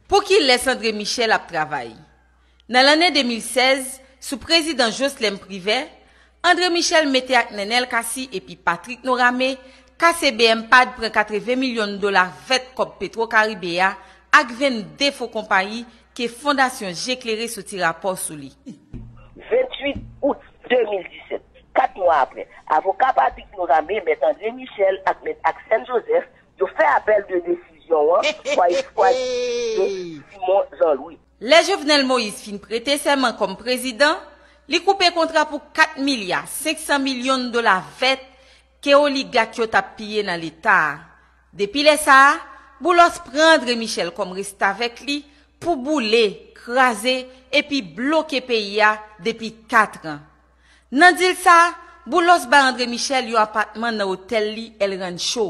Pou ki lès André Michel ap travay? Nan lanne 2016, sou prezidans Joslèm Privè, André Michel mete ak Nenel Cassy epi Patrick Norame, KCBMPADH pran 80 milyon dola vèt kòb Petro Caribe a ak 22 fo konpayi ke Fondasyon Je Klere soti rapò sou li. 28 out 2017, 4 mwa apre, avoka Patrick Norame, Mèt André Michel ak Mèt Axène Joseph, Yo fè apèl de desizyon an fwa yo chwazi enplike Simon Jean Louis. Lè Jovenel Moïse fin prete sèman kòm prezidan, li koupe kontra pou 4 milya 500 milyon dola vèt ke oligak yo tap piye nan leta a. Depi lè sa a, Boulos pran André Michel kòm restavèk li pou boule, kraze epi bloke peyi a depi 4 an. Nan dil sa, Boulos bay André Michel yon apatman nan otèl li El Rancho.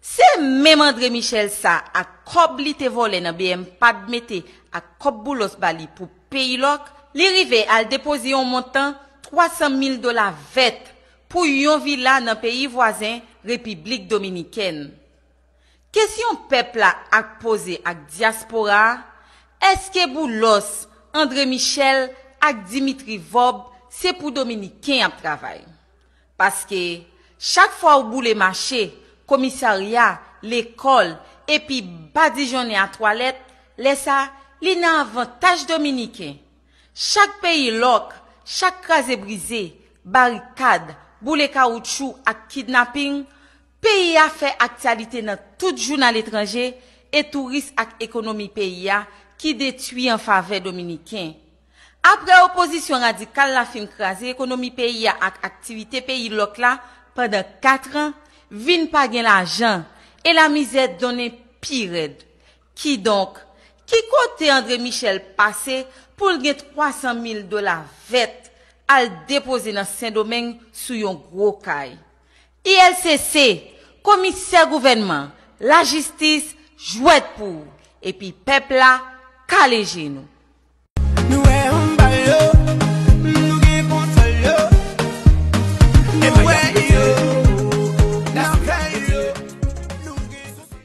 Se menm André Michel sa ak kòb li te vòlè nan bmpad mete ak kòb Boulos ba li pou Peyilòk, li rive al depoze yon montan 300 mil dola vèt pou yon vila nan peyi vwazen Repiblik Dominikèn. Kesyon pèp la ak poze ak dyaspora a, èske Boulos, Andre Michel ak Dimitri Vob se pou dominiken yap travay? Paske chak fwa ou boule mache, komisarya, lekòl epi badijonnen a twalèt, lè sa li nan avantaj dominiken. Chak peyi lòk, chak kraze brize, barikad, boule kawoutchou ak kidnaping, Peyi a fè aktyalite nan tout jounal etranje e touris ak ekonomi peyi a ki detwi an favè dominiken. Aprè opozisyon radikal la fin kraze ekonomi peyi a ak aktivite peyi lòk la pandan 4 an, vin pa gen lajan e lamizè donnen pi rèd. Kidonk, ki kote André Michel pase pou l gen 300 mil dola vèt al depoze nan Sendomeng sou yon gwo kay? ILCC, komisè gouvènman, lajistis, jwèt pou ou. Epi pèp la kale je nou. Nou wè anba yo, nou gen kontwòl yo. Nou wè yo, nan fè yo, nou gen kontwòl yo.